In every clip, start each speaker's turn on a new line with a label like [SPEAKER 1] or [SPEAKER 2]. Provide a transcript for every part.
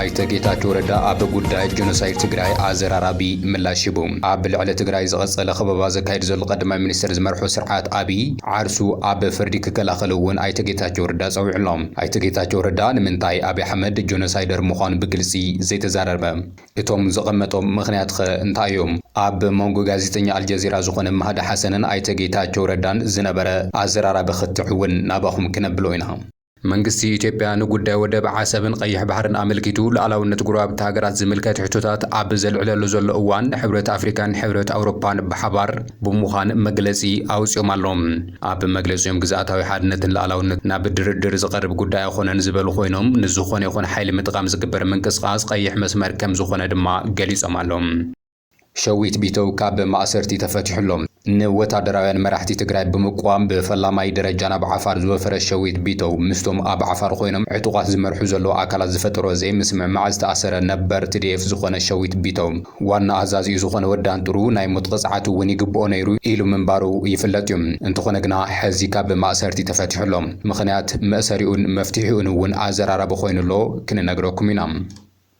[SPEAKER 1] ኣይተ ጌታቸው ረዳ ኣብ ጉዳይ ጀኖሳይድ ትግራይ ኣዘራራቢ ምላሽ ሂቡ። ኣብ ልዕሊ ትግራይ ዝቐፀለ ከበባ ዘካይድ ዘሎ ቀዳማይ ሚኒስትር ዝመርሖ ስርዓት ኣብይ ዓርሱ ኣብ ፍርዲ ክከላኸል እውን ኣይተ ጌታቸው ረዳ ፀዊዑ ኣሎ። ኣይተ ጌታቸው ረዳ ንምንታይ ኣብይ ኣሕመድ ጀኖሳይደር ምዃኑ ብግልፂ ዘይተዛረበ? እቶም ዘቐመጦም ምኽንያት ኸ እንታይ እዩ? ኣብ መንጎ ጋዜጠኛ ኣልጀዚራ ዝኾነ ማህዲ ሓሰንን ኣይተ ጌታቸው ረዳን ዝነበረ ኣዘራራቢ ክትዕ እውን ናባኹም ክነብሎ ኢና። መንግስቲ ኢትዮጵያ ንጉዳይ ወደብ ዓሰብን ቐይሕ ባሕርን ኣመልኪቱ ሉኣላውነት ጎረባብቲ ሃገራት ዝምልከት ሕቶታት ኣብ ዘልዕለሉ ዘሎ እዋን ሕብረት ኣፍሪካን ሕብረት ኣውሮፓን ብሓባር ብምዃን መግለፂ ኣውፂኦም ኣለው። ኣብ መግለፂኦም ግዝኣታዊ ሓድነትን ሉኣላውነትን ናብ ድርድር ዝቐርብ ጉዳይ ኣይኾነን ዝበሉ ኮይኖም ንዝኾነ ይኹን ሓይሊ ምጥቓም ዝግበር ምንቅስቓስ ቐይሕ መስመር ከምዝኾነ ድማ ገሊፆም ኣለው። ሸዊት ቢተው ካብ ማእሰርቲ ተፈቲሑ'ሎ። ንወታደራውያን መራሕቲ ትግራይ ብምቅዋም ብፈላማይ ደረጃ ናብ ዓፋር ዝወፈረ ሸዊት ቢተው፣ ምስቶም ኣብ ዓፋር ኮይኖም ዕጡቓት ዝመርሑ ዘለዉ ኣካላት ዝፈጠሮ ዘይምስምዕማዕ ዝተኣሰረ ነበር ትዲኤፍ ዝኾነ ሸዊት ቢተው፣ ዋና ኣዛዚኡ ዝኾነ ወዲ ኣንጥሩ ናይ ሞት ቕፅዓት'ውን ይግብኦ ነይሩ ኢሉ ምንባሩ ይፍለጥ'ዩ። እንተኾነ ግና ሐዚ ካብ ማእሰርቲ ተፈቲሑ'ሎ። ምኽንያት መእሰሪኡን መፍትሒኡን'ውን ኣዘራራቢ ኮይኑ'ሎ ክንነግረኩም ኢና።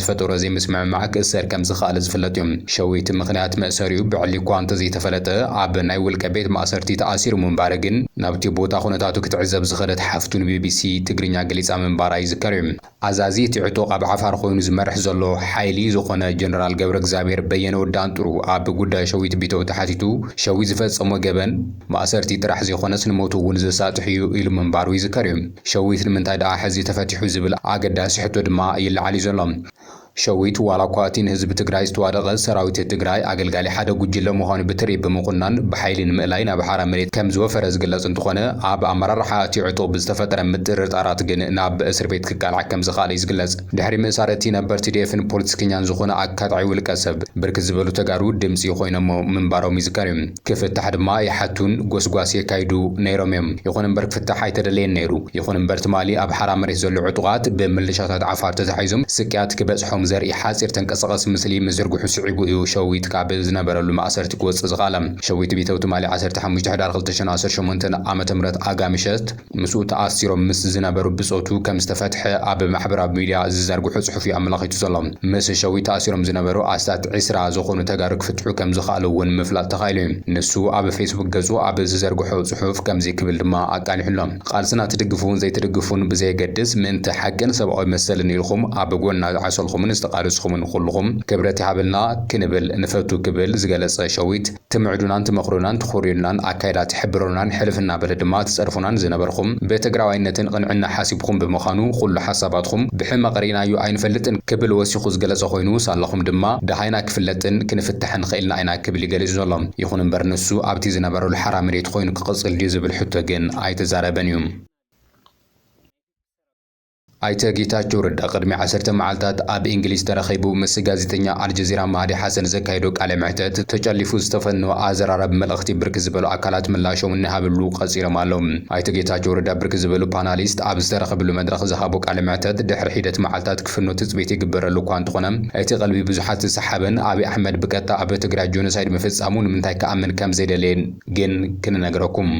[SPEAKER 1] ዝፈጠሮ ዘይምስምዕማዕ ክእሰር ከም ዝኸኣለ ዝፍለጥ እዩ። ሸዊት ምኽንያት መእሰሪኡ ብዕሊ እኳ እንተዘይተፈለጠ፣ ኣብ ናይ ውልቀ ቤት ማእሰርቲ ተኣሲሩ ምንባረ ግን ናብቲ ቦታ ኩነታቱ ክትዕዘብ ዝኸደት ሓፍቱ ንቢቢሲ ትግርኛ ገሊጻ ምንባራ ይዝከር እዩ። ኣዛዚ እቲ ዕጡቕ ኣብ ዓፋር ኮይኑ ዝመርሕ ዘሎ ሓይሊ ዝኾነ ጀነራል ገብረእግዚኣብሄር በየነ ወዲ ኣንጥሩ ኣብ ጉዳይ ሸዊት ቢተው ተሓቲቱ ሸዊት ዝፈጸሞ ገበን ማእሰርቲ ጥራሕ ዘይኮነስ ንሞቱ እውን ዘሳጥሕ እዩ ኢሉ ምንባሩ ይዝከር እዩ። ሸዊት ንምንታይ ደኣ ሕዚ ተፈቲሑ ዝብል ኣገዳሲ ሕቶ ድማ ይለዓል እዩ ዘሎ። ሸዊት ዋላ እኳ እቲ ንህዝቢ ትግራይ ዝተዋደቐ ሰራዊት ትግራይ ኣገልጋሊ ሓደ ጉጅለ ምዃኑ ብትሪ ብምኹናን ብሓይሊ ንምእላይ ናብ ሓራ መሬት ከምዝወፈረ ዝግለፅ እንትኾነ ኣብ ኣመራርሓ እቲ ዕጡቕ ብዝተፈጠረ ምጥርጣራት ግን ናብ እስርቤት ክቃላዕ ከምዝኸኣለ እዩ ዝግለፅ። ድሕሪ ምእሳር እቲ ነበር ቲዲኤፍን ፖለቲከኛን ዝኾነ ኣካታዒ ውልቀሰብ ብርክት ዝበሉ ተጋሩ ድምፂ ኮይኖሞ ምንባሮም ይዝከር እዩ። ክፍታሕ ድማ ይሓቱን ጎስጓስ የካይዱ ነይሮም እዮም። ይኹን እምበር ክፍታሕ ኣይተደለየን ነይሩ። ይኹን እምበር ትማሊ ኣብ ሓራ መሬት ዘሎ ዕጡቓት ብምልሻታት ዓፋር ተታሒዞም ስቅያት ክበጽሖም ዘርኢ ሓጺር ተንቀሳቓሲ ምስሊ ምዝርግሑ ስዒቡ እዩ ሸዊት ካብ ዝነበረሉ ማእሰርቲ ክወጽእ ዝኸኣለ። ሸዊት ቢተው ትማሊ ዓሰርተ ሓሙሽተ ሕዳር ክልተ ሽሕን ዓሰርተ ሸሞንተን ዓመተ ምህረት ኣጋ ምሸት ምስኡ ተኣሲሮም ምስ ዝነበሩ ብጾቱ ከም ዝተፈትሐ ኣብ ማሕበራዊ ሚድያ ዝዘርግሖ ጽሑፍ'ዩ ኣመላኺቱ ዘሎ። ምስ ሸዊት ተኣሲሮም ዝነበሩ ኣስታት ዕስራ ዝኾኑ ተጋሩ ክፍትሑ ከም ዝኸኣሉ'ውን ምፍላጥ ተኻኢሉ'ዩ። ንሱ ኣብ ፌስቡክ ገጹ ኣብ ዝዘርግሖ ጽሑፍ ከምዚ ክብል ድማ ኣቃሊሑ'ሎ። ቃልስና ትድግፉን ዘይትድግፉን ብዘየገድስ ምእንቲ ሓቅን ሰብኣዊ መሰልን ኢልኹም ኣብ ጎንና ዝዓሰልኩምን ዝተቓለስኹምን ኩሉኹም ክብረት ይሃበልና ክንብል ንፈቱ ክብል ዝገለጸ ሸዊት፣ ትምዕዱናን ትመኽሩናን ትኾርዩልናን ኣካይዳ ትሕብሩናን ሕልፍ እናበለ ድማ ትጸርፉናን ዝነበርኹም ብትግራዋይነትን ቕንዕና ሓሲብኹም ብምኻኑ ኹሉ ሓሳባትኹም ብሕመቕ ርኢናዮ ኣይንፈልጥን ክብል ወሲኹ ዝገለጸ ኾይኑ ሳላኹም ድማ ደሃይና ክፍለጥን ክንፍታሕን ኽኢልና ኢና ክብል እዩ ገሊጹ ዘሎ። ይኹን እምበር ንሱ ኣብቲ ዝነበረሉ ሓራ መሬት ኾይኑ ክቕጽል ድዩ ዝብል ሕቶ ግን ኣይተዛረበን እዩ። ኣይተ ጌታቸው ረዳ ቅድሚ ዓሰርተ መዓልታት ኣብ እንግሊዝ ተረኺቡ ምስ ጋዜጠኛ ኣልጀዚራ ማህዲ ሓሰን ዘካየዶ ቃለ መሕተት ተጨሊፉ ዝተፈነወ ኣዘራራቢ መልእኽቲ ብርክት ዝበሉ ኣካላት ምላሾም እናሃብሉ ቀፂሎም ኣለው። ኣይተ ጌታቸው ረዳ ብርክት ዝበሉ ፓናሊስት ኣብ ዝተረኸብሉ መድረኽ ዝሃቦ ቃለ መሕተት ድሕሪ ሒደት መዓልታት ክፍኖ ትፅቢት ይግበረሉ እኳ እንተኾነ እቲ ቀልቢ ብዙሓት ዝሰሓበን ኣብይ ኣሕመድ ብቀጥታ ኣብ ትግራይ ጆኖሳይድ ምፍፃሙ ንምንታይ ክኣምን ከምዘይደለየ ግን ክንነግረኩም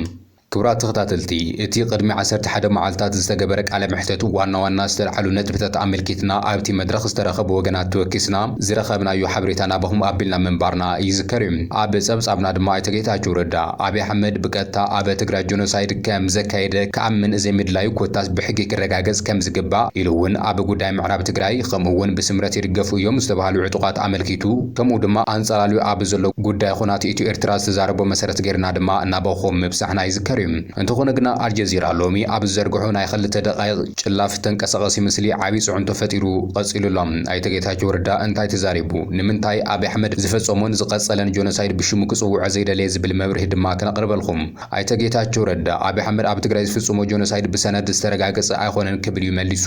[SPEAKER 1] ክቡራት ተኸታተልቲ እቲ ቅድሚ ዓሰርተ ሓደ መዓልታት ዝተገበረ ቃለ መሕተት ዋና ዋና ዝተልዓሉ ነጥብታት ኣመልኪትና ኣብቲ መድረኽ ዝተረኸቡ ወገናት ተወኪስና ዝረኸብናዮ ሓበሬታ ናባኹም ኣቢልና ምንባርና ይዝከር እዩ። ኣብ ጸብጻብና ድማ ኣይተ ጌታቸው ረዳ ኣብይ ኣሕመድ ብቀጥታ ኣብ ትግራይ ጆኖሳይድ ከም ዘካየደ ክኣምን ዘይምድላዩ ኮታስ ብሕጊ ክረጋገጽ ከም ዝግባእ ኢሉ እውን ኣብ ጉዳይ ምዕራብ ትግራይ ከምኡ እውን ብስምረት ይድገፉ እዮም ዝተብሃሉ ዕጡቓት ኣመልኪቱ ከምኡ ድማ ኣንጻላልዩ ኣብ ዘሎ ጉዳይ ኹናት ኢትዮ ኤርትራ ዝተዛረቦ መሰረት ገይርና ድማ እናበኹ ምብጻሕና ይዝከር እዩ። እንተኾነ ግና ኣልጀዚራ ሎሚ ኣብ ዝዘርግሖ ናይ ኽልተ ደቓይቕ ጭላፍ ተንቀሳቐሲ ምስሊ ዓብይ ፅዕንቶ ፈጢሩ ቐፂሉ ኣሎ። ኣይተ ጌታቸው ረዳ እንታይ ተዛሪቡ? ንምንታይ ኣብይ ኣሕመድ ዝፈፀሞን ዝቐፀለን ጆኖሳይድ ብሽሙ ክፅውዖ ዘይደለየ ዝብል መብርሂ ድማ ክነቕርበልኹም። ኣይተ ጌታቸው ረዳ ኣብይ ኣሕመድ ኣብ ትግራይ ዝፍፅሞ ጆኖሳይድ ብሰነድ ዝተረጋገፀ ኣይኾነን ክብል እዩ መሊሱ።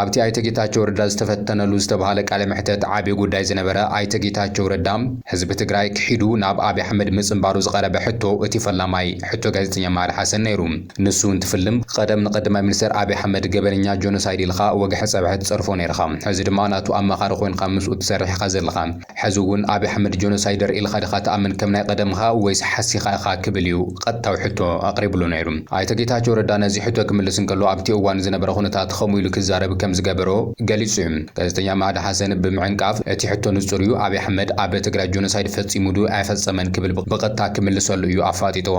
[SPEAKER 1] ኣብቲ ኣይተ ጌታቸው ረዳ ዝተፈተነሉ ዝተብሃለ ቃለ መሕተት ዓብዪ ጉዳይ ዝነበረ ኣይተ ጌታቸው ረዳ ህዝቢ ትግራይ ክሒዱ ናብ ኣብይ ኣሕመድ ምፅንባሩ ዝቐረበ ሕቶ እቲ ፈላማይ ሕቶ ጋዜጠኛ መሃሪ ሓሰን ነይሩ። ንሱ እንትፍልም ቐደም ንቐዳማይ ሚኒስትር ኣብይ ኣሕመድ ገበነኛ ጆኖሳይድ ኢልኻ ወግሐ ፀብሐ ትፀርፎ ነይርኻ ሕዚ ድማ ናቱ ኣማኻሪ ኮይንኻ ምስኡ ትሰርሕ ኢኻ ዘለኻ ሐዚ እውን ኣብይ ኣሕመድ ጆኖሳይደር ኢልኻ ድኻ ትኣምን ከም ናይ ቐደምኻ ወይስ ሓሲኻ ኢኻ ክብል እዩ ቐጥታዊ ሕቶ ኣቕሪብሉ ነይሩ። ኣይተ ጌታቸው ረዳ ነዚ ሕቶ ክምልስ እንከሎ ኣብቲ እዋን ዝነበረ ኩነታት ኸምኡ ኢሉ ክዛረብ ከም ዝገበሮ ገሊፁ እዩ። ጋዜጠኛ ማህዲ ሓሰን ብምዕንቃፍ እቲ ሕቶ ንፁር እዩ ኣብይ ኣሕመድ ኣብ ትግራይ ጆኖሳይድ ፈፂሙ ዶ ኣይፈፀመን ክብል ብቐጥታ ክምልሰሉ እዩ ኣፋጢጥዎ።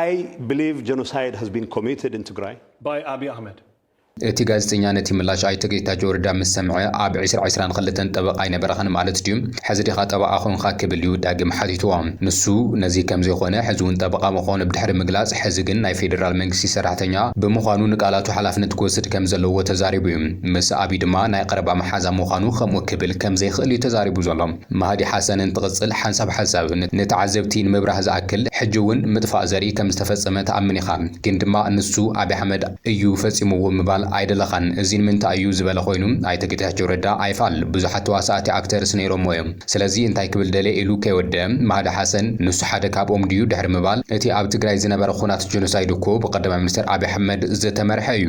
[SPEAKER 2] ኣይ
[SPEAKER 3] ብሊቭ ጀኖሳይድ ሃዝ ቢን ኮሚትድ ኢን ትግራይ ባይ ኣብይ ኣህመድ።
[SPEAKER 2] እቲ ጋዜጠኛ
[SPEAKER 1] ነቲ ምላሽ ኣይተ ጌታቸው ረዳ ምስ ሰምዐ፣ ኣብ ዕስራ ዕስራን ኽልተን ጠበቓ ኣይነበረኻን ማለት ድዩ? ሕዚ ዲኻ ጠበቓ ኾንኻ? ክብል እዩ ዳግም ሓቲትዎ። ንሱ ነዚ ከም ዘይኾነ፣ ሕዚ እውን ጠበቓ ምዃኑ ብድሕሪ ምግላፅ፣ ሕዚ ግን ናይ ፌዴራል መንግስቲ ሰራሕተኛ ብምዃኑ ንቃላቱ ሓላፍነት ክወስድ ከም ዘለዎ ተዛሪቡ እዩ። ምስ ኣብይ ድማ ናይ ቐረባ መሓዛ ምዃኑ ኸምኡ ክብል ከም ዘይኽእል እዩ ተዛሪቡ ዘሎ። ማህዲ ሓሰን እንትቕጽል ሓንሳብ ሓንሳብ ንተዓዘብቲ ንምብራህ ዝኣክል ሕጂ እውን ምጥፋእ ዘርኢ ከም ዝተፈጸመ ትኣምን ኢኻ ግን ድማ ንሱ ኣብይ ኣሕመድ እዩ ፈጺምዎ ምባል ኣይደለኻን እዚ ንምንታይ እዩ ዝበለ ኮይኑ ኣይተ ጌታቸው ረዳ ኣይፋል ብዙሓት ተዋሳእቲ ኣክተርስ ነይሮሞ እዮም ስለዚ እንታይ ክብል ደልየ ኢሉ ከይወደኣ ማህዲ ሓሰን ንሱ ሓደ ካብኦም ድዩ ድሕሪ ምባል እቲ ኣብ ትግራይ ዝነበረ ኹናት ጀኖሳይድ እኮ ብቀዳማይ ሚኒስተር ኣብይ ኣሕመድ ዝተመርሐ እዩ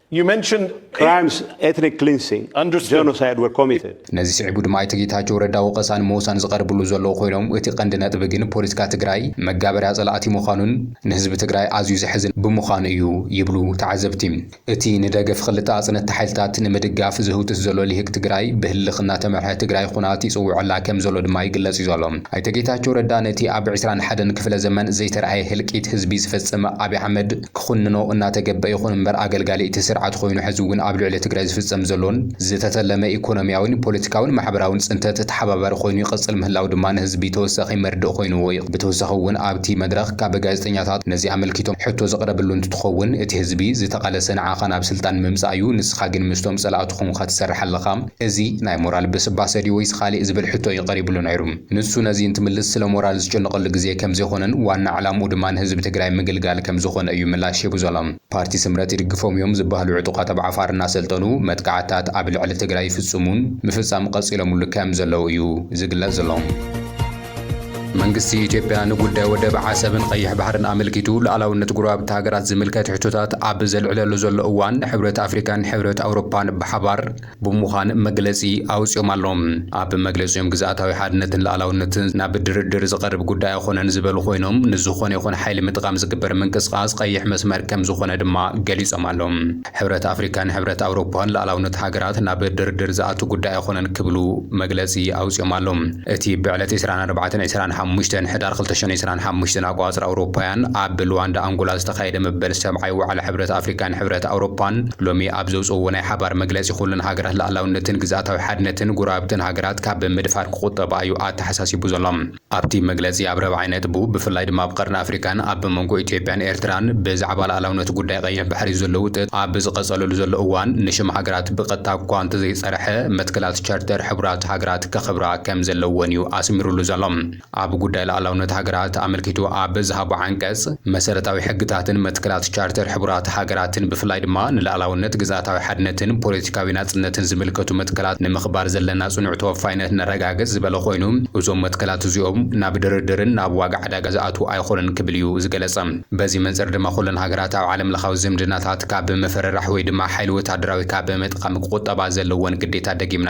[SPEAKER 3] You mentioned
[SPEAKER 2] Crimes,
[SPEAKER 3] ethnic cleansing, Understood. genocide were committed. ነዚ ስዒቡ ድማ ኣይተ
[SPEAKER 1] ጌታቸው ረዳ ወቐሳ ንምውሳን ዝቐርብሉ ዘለዉ ኮይኖም እቲ ቀንዲ ነጥቢ ግን ፖለቲካ ትግራይ መጋበርያ ፀላእቲ ምዃኑን ንህዝቢ ትግራይ ኣዝዩ ዘሕዝን ብምዃኑ እዩ ይብሉ ተዓዘብቲ። እቲ ንደገፍ ኽልተ ኣፅነትቲ ሓይልታት ንምድጋፍ ዝህውትት ዘሎ ሊህቅ ትግራይ ብህልኽ እናተመርሐ ትግራይ ኹናት ይፅውዐላ ከምዘሎ ድማ ይግለፅ እዩ ዘሎ። ኣይተ ጌታቸው ረዳ ነቲ ኣብ ዕስራን ሓደን ክፍለ ዘመን ዘይተርኣየ ህልቂት ህዝቢ ዝፈፀመ ኣብይ ኣሕመድ ክኹንኖ እናተገበ ይኹን እምበር ኣገልጋሊ እቲ ስርዓት ኾይኑ ሕዚ እውን ኣብ ልዕሊ ትግራይ ዝፍፀም ዘሎን ዝተተለመ ኢኮኖሚያዊን ፖለቲካዊን ማሕበራዊን ፅንተት ተሓባባሪ ኾይኑ ይቕፅል ምህላው ድማ ንህዝቢ ተወሳኺ መርድእ ኾይኑዎ ይቕ ብተወሳኺ እውን ኣብቲ መድረኽ ካብ ጋዜጠኛታት ነዚ ኣመልኪቶም ሕቶ ዝቕረብሉ እንትትኾውን እቲ ህዝቢ ዝተቓለሰ ንዓኻ ናብ ስልጣን ንምምፃእ እዩ ንስኻ ግን ምስቶም ፀላእቱ ኾንካ ትሰርሕ ኣለኻ እዚ ናይ ሞራል ብስባሰ ድዩ ወይስ ኻሊእ ዝብል ሕቶ እዩ ቐሪብሉ ነይሩ። ንሱ ነዚ እንትምልስ ስለ ሞራል ዝጭነቐሉ ግዜ ከምዘይኾነን ዋና ዕላምኡ ድማ ንህዝቢ ትግራይ ምግልጋል ከምዝኾነ እዩ ምላሽ ሂቡ ዘሎ። ፓርቲ ስምረት ይድግፎም እዮም ዝበሃሉ ዕጡቓት ኣብ ዓፋር እናሰልጠኑ መጥቃዕትታት ኣብ ልዕሊ ትግራይ ይፍፅሙን ምፍፃም ቐፂሎምሉ ከምዘለው እዩ ዝግለፅ ዘሎ። መንግስቲ ኢትዮጵያ ንጉዳይ ወደብ ዓሰብን ቐይሕ ባሕርን ኣመልኪቱ ሉኣላውነት ጎረባብቲ ሃገራት ዝምልከት ሕቶታት ኣብ ዘልዕለሉ ዘሎ እዋን ሕብረት ኣፍሪካን ሕብረት ኣውሮፓን ብሓባር ብምዃን መግለጺ ኣውጺኦም ኣሎም። ኣብ መግለጺኦም ግዝኣታዊ ሓድነትን ልኣላውነትን ናብ ድርድር ዝቐርብ ጉዳይ ኣይኾነን ዝበሉ ኮይኖም ንዝኾነ ይኹን ሓይሊ ምጥቓም ዝግበር ምንቅስቓስ ቐይሕ መስመር ከምዝኾነ ድማ ገሊጾም ኣሎም። ሕብረት ኣፍሪካን ሕብረት ኣውሮፓን ልኣላውነት ሃገራት ናብ ድርድር ዝኣቱ ጉዳይ ኣይኾነን ክብሉ መግለጺ ኣውጺኦም ኣሎም። እቲ ብዕለት ዕስራን ኣርባዕተን ዕስራን ሓሙሽተን ሕዳር ክልተ ሽሕን ዕስራን ሓሙሽተን ኣቆፃፅራ ኣውሮፓውያን ኣብ ልዋንዳ ኣንጎላ ዝተኻየደ መበል ሰብዓይ ዋዕላ ሕብረት ኣፍሪካን ሕብረት ኣውሮፓን ሎሚ ኣብ ዘውጽእዎ ናይ ሓባር መግለጺ ኩለን ሃገራት ልኣላውነትን ግዝኣታዊ ሓድነትን ጎረባብተን ሃገራት ካብ ምድፋር ክቑጠባ እዩ ኣተሓሳሲቡ ዘሎ። ኣብቲ መግለጺ ኣብ ራብዓይ ነጥቡ ብፍላይ ድማ ኣብ ቀርኒ ኣፍሪቃን ኣብ መንጎ ኢትዮጵያን ኤርትራን ብዛዕባ ልኣላውነት ጉዳይ ቀይሕ ባሕሪ ዘሎ ውጥጥ ኣብ ዝቐጸለሉ ዘሎ እዋን ንሽም ሃገራት ብቐጥታ እኳ እንተዘይጸርሐ መትከላት ቻርተር ሕቡራት ሃገራት ከኽብራ ከምዘለወን እዩ ኣስሚሩሉ ዘሎ። ኣብ ጉዳይ ልኣላውነት ሃገራት ኣመልኪቱ ኣብ ዝሃቦ ዓንቀጽ፣ መሰረታዊ ሕግታትን መትከላት ቻርተር ሕቡራት ሃገራትን ብፍላይ ድማ ንልኣላውነት፣ ግዝኣታዊ ሓድነትን ፖለቲካዊ ናጽነትን ዝምልከቱ መትከላት ንምኽባር ዘለና ጽኑዕ ተወፋይነት ነረጋግጽ ዝበለ ኮይኑ፣ እዞም መትከላት እዚኦም ናብ ድርድርን ናብ ዋጋ ዕዳጋ ዝኣትዉ ኣይኾኑን ክብል እዩ ዝገለጸ። በዚ መንጽር ድማ ኩለን ሃገራት ኣብ ዓለምለኻዊ ዝምድናታት ካብ ምፍርራሕ ወይ ድማ ሓይሊ ወተሃደራዊ ካብ ምጥቓም ክቑጠባ ዘለወን ግዴታ ደጊምና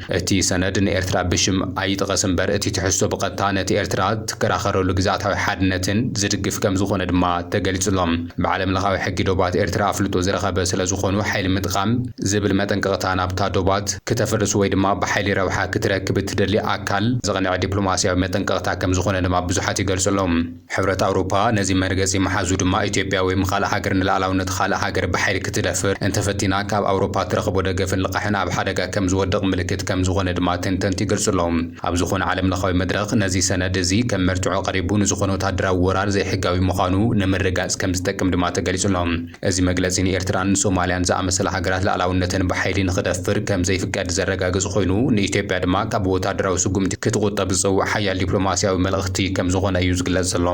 [SPEAKER 1] እቲ ሰነድ ንኤርትራ ብሽም ኣይጥቐስ እምበር እቲ ትሕዝቶ ብቐጥታ ነቲ ኤርትራ ትከራኸረሉ ግዝኣታዊ ሓድነትን ዝድግፍ ከምዝኾነ ድማ ተገሊጹ'ሎ። ብዓለምለኻዊ ሕጊ ዶባት ኤርትራ ኣፍልጦ ዝረኸበ ስለዝኾኑ ሓይሊ ምጥቓም ዝብል መጠንቀቕታ ናብታ ዶባት ክተፍርስ ወይ ድማ ብሓይሊ ረብሓ ክትረክብ እትደሊ ኣካል ዘቕንዐ ዲፕሎማስያዊ መጠንቀቕታ ከምዝኾነ ድማ ብዙሓት ይገልጹ'ሎ። ሕብረት ኣውሮፓ ነዚ መርገጺ ምሓዙ ድማ ኢትዮጵያ ወይም ኻልእ ሃገር ንልኣላውነት ኻልእ ሃገር ብሓይሊ ክትደፍር እንተፈቲና ካብ ኣውሮፓ ትረኽቦ ደገፍን ልቓሕን ኣብ ሓደጋ ከም ዝወድቕ ምልክት ከም ዝኾነ ድማ ተንተንቲ ይገልጹ ኣለዉ። ኣብ ዝኾነ ዓለምለኻዊ መድረኽ ነዚ ሰነድ እዚ ከም መርትዖ ቀሪቡ ንዝኾነ ወተሃደራዊ ወራር ዘይሕጋዊ ምዃኑ ንምርግጋጽ ከም ዝጠቅም ድማ ተገሊጹ ኣሎ። እዚ መግለጺ ንኤርትራን ሶማልያን ዝኣመሰላ ሃገራት ልኣላውነተን ብሓይሊ ንኽደፍር ከም ዘይፍቀድ ዘረጋግጽ ኮይኑ፣ ንኢትዮጵያ ድማ ካብ ወተሃደራዊ ስጉምቲ ክትቑጠብ ዝጸውዕ ሓያል ዲፕሎማስያዊ መልእኽቲ ከም ዝኾነ እዩ ዝግለጽ ዘሎ።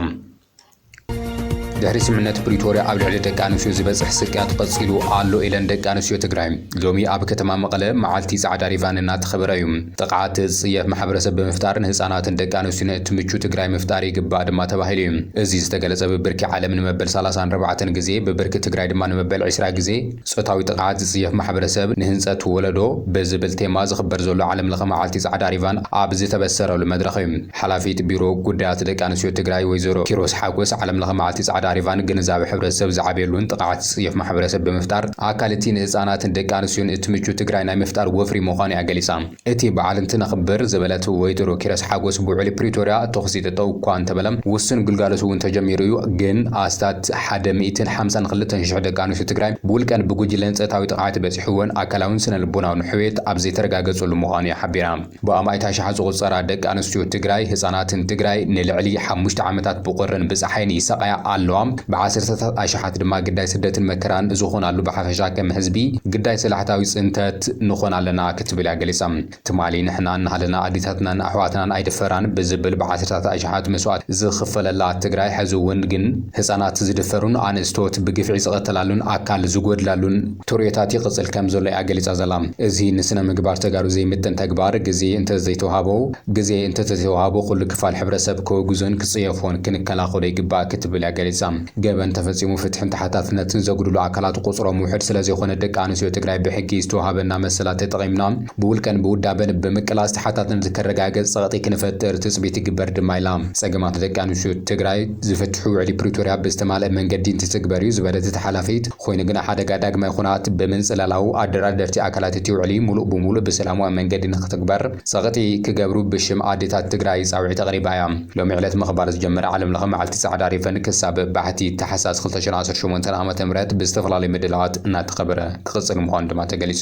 [SPEAKER 1] ድሕሪ ስምምነት ፕሪቶርያ ኣብ ልዕሊ ደቂ ኣንስትዮ ዝበፅሕ ስቅያት ቐፂሉ ኣሎ ኢለን ደቂ ኣንስትዮ ትግራይ ሎሚ ኣብ ከተማ መቐለ መዓልቲ ፃዕዳ ሪቫን እናተኸበረ እዩ። ጥቕዓት ዝፅየፍ ማሕበረሰብ ብምፍጣር ንህፃናትን ደቂ ኣንስትዮን እትምቹ ትግራይ ምፍጣር ይግባእ ድማ ተባሂሉ ዩ። እዚ ዝተገለፀ ብብርኪ ዓለም ንመበል ሰላሳን ኣርባዕተን ግዜ ብብርኪ ትግራይ ድማ ንመበል ዕስራ ግዜ ፆታዊ ጥቕዓት ዝፅየፍ ማሕበረሰብ ንህንፀት ወለዶ ብዝብል ቴማ ዝኽበር ዘሎ ዓለም ለኸ መዓልቲ ፃዕዳ ሪቫን ኣብ ዝተበሰረሉ መድረኽ ዩ። ሓላፊት ቢሮ ጉዳያት ደቂ ኣንስትዮ ትግራይ ወይዘሮ ኪሮስ ሓጎስ፣ ዓለምለኸ መዓልቲ ፃዕዳ ሪቫን ግንዛበ ሕብረተሰብ ዝዓብየሉን ጥቕዓት ዝፅየፍ ማሕበረሰብ ብምፍጣር ኣካል እቲ ንህፃናትን ደቂ ኣንስትዮን እትምቹ ትግራይ ናይ ምፍጣር ወፍሪ ምዃኑ እያ ገሊፃ። እቲ በዓል እንትነኽብር ዝበለት ወይዘሮ ኪሮስ ሓጎስ፣ ብውዕሊ ፕሪቶርያ ተኹሲ ጠጠው እኳ እንተበለ ውሱን ግልጋሎት እውን ተጀሚሩ እዩ፣ ግን ኣስታት ሓደ ሚእትን ሓምሳን ክልተን ሽሕ ደቂ ኣንስትዮ ትግራይ ብውልቀን ብጉጅለን ፀታዊ ጥቕዓት በፂሑወን ኣካላውን ስነልቦናውን ሕውየት ኣብ ዘይተረጋገፀሉ ምዃኑ እያ ሓቢራ። ብኣማኢት ኣሽሓት ዝቑጸራ ደቂ ኣንስትዮ ትግራይ፣ ህጻናትን ትግራይ ንልዕሊ ሓሙሽተ ዓመታት ብቑርን ብጸሓይን ይሳቐያ ኣለዋ። ብዓሰርተታት ኣሽሓት ድማ ግዳይ ስደትን መከራን ዝኾናሉ ብሓፈሻ ከም ህዝቢ ግዳይ ሰላሕታዊ ጽንተት ንኾን ኣለና ክትብል እያ ገሊጻ። ትማሊ ንሕና እናሃለና ኣዴታትናን ኣሕዋትናን ኣይድፈራን ብዝብል ብዓሰርተታት ኣሽሓት መስዋእቲ ዝኽፈለላ ትግራይ ሕዚ እውን ግን ህጻናት ዝድፈሩን ኣንእስቶት ብግፍዒ ዝቐተላሉን ኣካል ዝጎድላሉን ቶርዮታት ይቕጽል ከም ዘሎ እያ ገሊጻ ዘላ። እዚ ንስነ ምግባር ተጋሩ ዘይምጥን ተግባር ግዜ እንተ ዘይተውሃቦ ግዜ እንተ ተተዋህቦ ኩሉ ክፋል ሕብረሰብ ከወግዞን ክጽየፎን ክንከላኸሎ ይግባእ ክትብል እያ ገሊጻ። ገበን ተፈጺሙ ፍትሕን ተሓታትነትን ዘጉድሉ ኣካላት ቁጽሮም ውሕድ ስለ ዘይኮነ ደቂ ኣንስትዮ ትግራይ ብሕጊ ዝተውሃበና መሰላት ተጠቒምና ብውልቀን ብውዳበን ብምቅላስ ተሓታትነት ክረጋገጽ ጸቕጢ ክንፈጥር ትጽቢት ይግበር ድማ ኢላ። ጸገማት ደቂ ኣንስትዮ ትግራይ ዝፍትሑ ውዕሊ ፕሪቶርያ ብዝተማልኣ መንገዲ እንትትግበር እዩ ዝበለት እታ ሓላፊት፣ ኾይኑ ግና ሓደጋ ዳግማይ ኹናት ብምንፅላላው ኣደራደርቲ ኣካላት እቲ ውዕሊ ሙሉእ ብሙሉእ ብሰላማዊ መንገዲ ንኽትግበር ፀቕጢ ክገብሩ ብሽም ኣዴታት ትግራይ ፃውዒት ኣቕሪባ እያ። ሎሚ ዕለት ምኽባር ዝጀመረ ዓለም ለኸ መዓልቲ ፃዕዳ ሪቨን ክሳብ ባሕቲ ታሕሳስ ክልተ ሽሕ ዓሰርተ ሸሞንተ ዓ ም ብዝተፈላለዩ ምድላዋት እናተኸበረ ክቕፅል ምዃኑ ድማ ተገሊፁ።